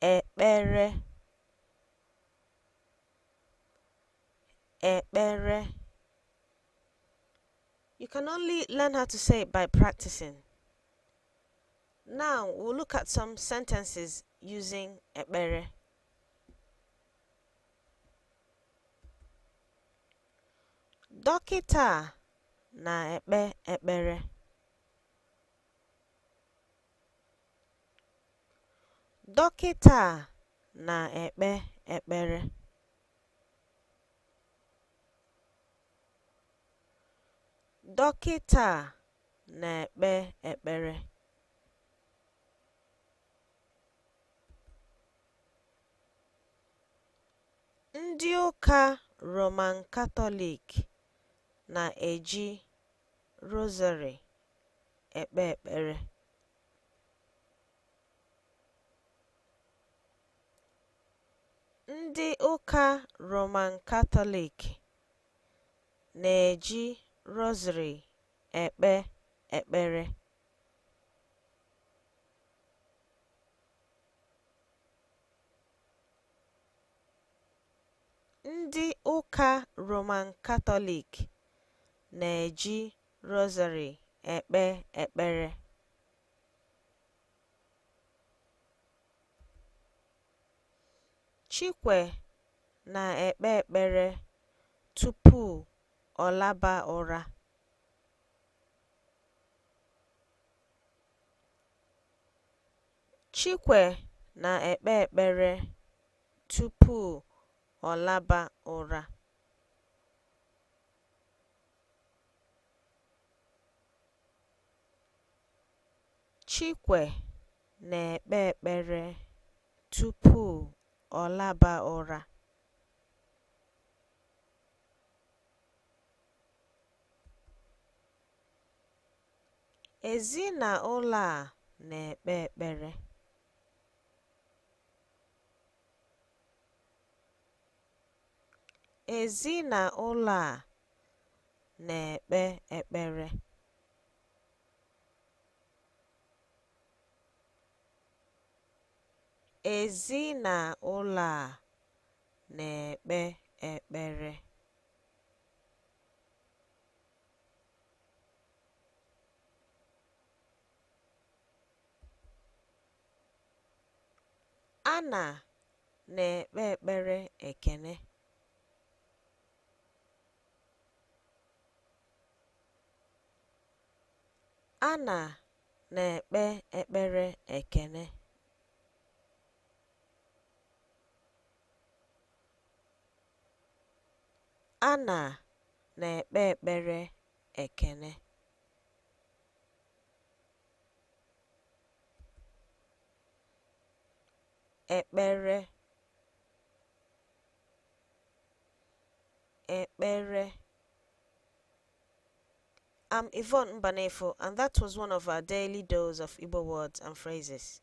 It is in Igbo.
ekpere ekpere you can only learn how to say it by practicing now we'll look at some sentences using ekpere Dọkịta a na-ekpe ekpere. Dọkịta a na-ekpe ekpere. Dọkịta a na-ekpe ekpere. Ndị ụka Roman Katọlik na-eji rosary ekpe ekpere. Ndị ụka Roman Katọlik na-eji rosary ekpe ekpere. Ndị ụka Roman Katọlik na-eji rosary ekpe ekpere. Chikwe na-ekpe ekpere tupu ọ laba ụra. Chikwe na-ekpe ekpere tupu ọ laba ụra. Chikwe na-ekpe ekpere tupu ọ laba ụra. Ezinaụlọ a na-ekpe ekpere. Ezinaụlọ a na-ekpe ekpere. Ezinaụlọ a na-ekpe ekpere. A na na-ekpe ekpere ekene. A na na-ekpe ekpere ekene. A na na-ekpe ekpere ekene. ekpere ekpere I'm Yvonne Mbanefo, and that was one of our daily dose of Igbo words and phrases.